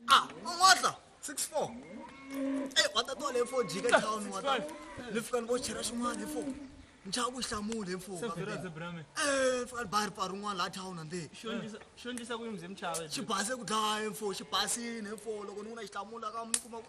ah ungodla 64 eyi watatwa le fo jika town wata le fika ni vo chera xin'wana hi fo nchava ku hlamula hi mfuka fika ni bari pari un'wana laha town ande xi base ku dlaya hi mfo xi basini hi mfo loko ni ku na xihlamula ka mi kuma ku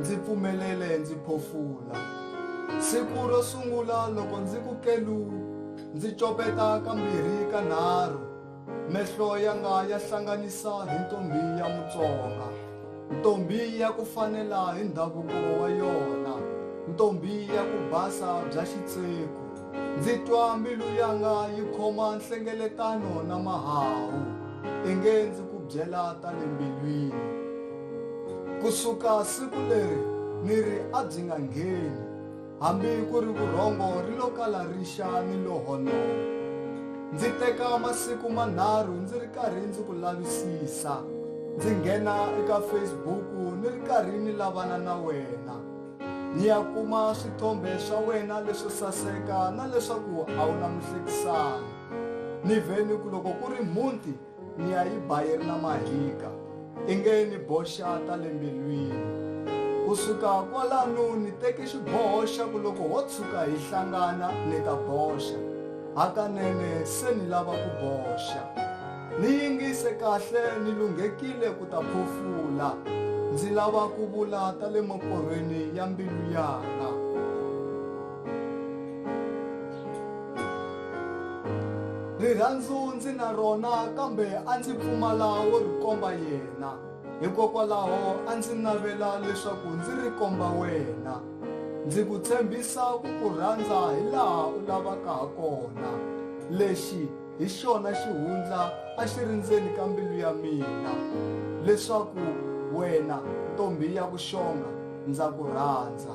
Ndzi pfumelele ndzi phofula. Siku ro sungula loko ndzi ku kelu, ndzi copeta kambirhi kanharhu, mehlo yanga ya hlanganisa hi ntombhi ya Mutsonga, ntombhi ya ku fanela hi ndhavuko wa yona, ntombhi ya ku basa bya xitseku. Ndzi twa mbilu yanga yi khoma nhlengeletano na mahawu, inge ndzi ku byela ta le mbilwini. Ku suka siku leri ni ri a byi nga ngheni, hambi ku ri vurhongo ri lo kala rixa ni lo honoka. Ndzi teka masiku manharhu ndzi ri karhi ndzi ku lavisisa, ndzi nghena eka Facebook ni ri karhi ni lavana na wena. ni ya kuma swithombe swa wena leswo saseka na leswaku a wu na muhlekisani ni vhe ni ku loko ku ri mhunti ni ya yi ba yi ri na mahika i nge ni boxa ta le mbilwini kusuka kwalano ni teke xiboho xa ku loko ho tshuka hi hlangana ni ta boxa hakanene se ni lava ku boxa Ni yingise kahle ni lunghekile ku ta phofula. Ndzi lava ku vula ta le maporhweni ya mbilu yaka. Rirhandzu ndzi na rona kambe a ndzi pfumala wo ri komba yena. Hikokwalaho a ndzi navela leswaku ndzi ri komba wena. Ndzi ku tshembisa ku ku rhandza hi laha u lavaka ha kona. Lexi hi xona xihundla a xi ri ndzeni ka mbilu ya mina leswaku wena ntombi ya vuxonga ndza ku rhandza